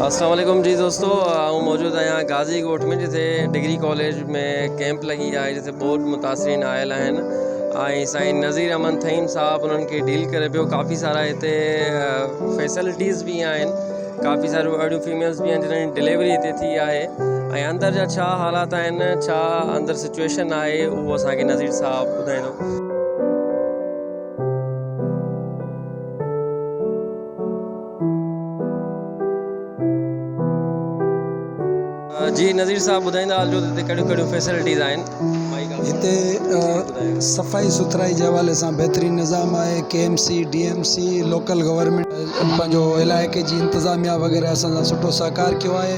السلام عليڪم جي دوستو آئون موجود آهيان غازي ڳوٺ ۾ جتي ڊگري ڪاليج ۾ ڪيمپ لڳي آهي جتي بوٽ متاثرين آيل آهن ۽ سائين نظير احمد تھيم صاحب انهن کي ڊيل ڪري پيو ڪافي سارا هتي فيسلٽيز به آهن ڪافي ساريون اهڙيون فيميلز به آهن جنهن جي ڊليوري هتي ٿي آهي ۽ اندر جا ڇا حالات آهن ڇا اندر سچويشن آهي اهو اسانکي نظير صاحب ٻڌائيندو جي نظير صاحب ٻڌائيندا هلجو ته هتي ڪهڙيون ڪهڙيون فيسلٽيز آهن هتي صفائي سٿرائي جي حوالي سان بهترين نظام آهي K M C D M C local government پنهنجو علائقي جي انتظاميا وغيره سان سٺو سهڪار ڪيو آهي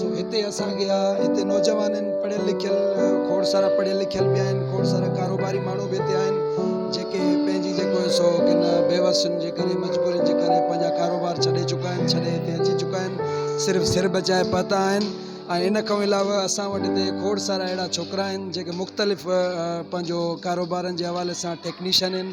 سو هتي اسان کي آ هتي نوجوان آهن پڙهيل لکيل کوڙ سارا پڙهيل لکيل به آهن کوڙ سارا ڪاروباري ماڻهو به هتي آهن جيڪي پنهنجي جيڪو سو ڪن بيوسين جي ڪري مجبورين جي ڪري پنهنجا ڪاروبار ڇڏي چڪا آهن ڇڏي هتي اچي چڪا آهن صرف سر بچائي پهتا آهن ۽ ان کان علاوه اسان وٽ هتي کوڙ سارا اهڙا ڇوڪرا آهن جيڪي مختلف پنهنجو ڪاروبارن جي حوالي سان ٽيڪنيشن آهن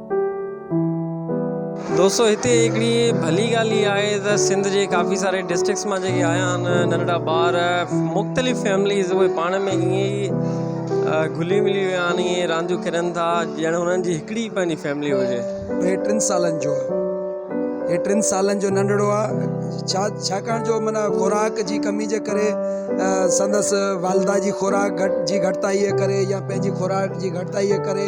دوستو هتي هڪڙي ڀلي ڳالهه هي آهي ته سنڌ جي ڪافي ساري ڊسٽرڪس مان جيڪي آيا آهن ننڍڙا ٻار مختلف فيمليز اهي پاڻ ۾ ائين ئي گهلي ملي ويا آهن ائين رانديون کيڏن ٿا ڄڻ هنن جي هڪڙي ئي پنهنجي فيملي هجي هي ٽن سالن جو هي ٽن سالن جو ننڍڙو آهي ڇا ڇاڪاڻ جو معنيٰ خوراڪ جي ڪمي جي ڪري سندس والده جي خوراڪ جي گهٽتائي جي ڪري يا پنهنجي خوراڪ جي گهٽتائي جي ڪري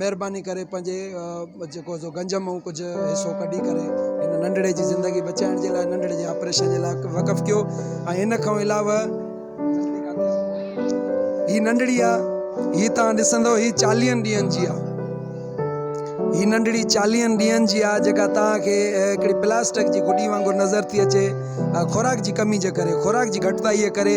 مھرباني ڪري پنھنجي جيڪو سو گنج مئون ڪجھ حصو ڪڍي ڪري ھن ننڍڙي جي زندگي بچائڻ جي لاء ننڍڙي جي آپريشن جي لاء وقف ڪيو ۽ ان کان علاوه ھي ننڍڙي آ ھي تان ڏسندو ھي چاليھن ڏينھن جي آ ھي ننڍڙي چاليھن ڏينھن جي آ جيڪا تان کي ھڪڙي پلاسٽڪ جي گڏي وانگر نظر ٿي اچي خوراڪ جي ڪمي جي ڪري خوراڪ جي گھٽتائي جي ڪري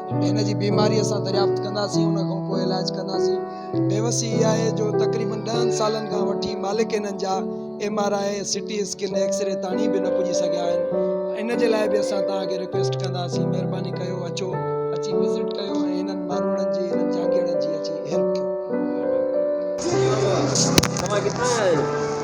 هن جي بيماري اسان دريافت ڪنداسين ان کان پوء علاج ڪنداسين بيوسي اها آهي جو تقريبن ڏهن سالن کان وٺي مالڪ هنن جا M R I C T scan x-ray تاڻي به نه پڄي سگهيا آهن ان جي لاء به اسان توهان کي رڪويسٽ ڪنداسين مهرباني ڪيو اچو اچي وزٽ ڪيو ۽ هنن ماروڙن جي هنن جهانگيڙن جي اچي هيلپ ڪيو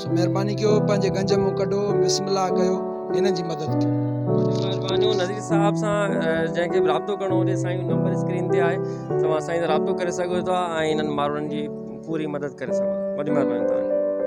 سو مھرباني ڪيو پنھنجي گنج مون ڪڍو بسم الله ڪيو ھنن جي مدد ڪيو. مھربانيون نذير صاحب سان جنھن کي به رابطو ڪرڻو ھجي سائين جو نمبر اسڪرين تي آھي توھان سائين سان رابطو ڪري سگھو ٿا ۽ ھنن ماڻھن جي پوري مدد ڪري سگھو ٿا وڏي مھرباني توھان جي.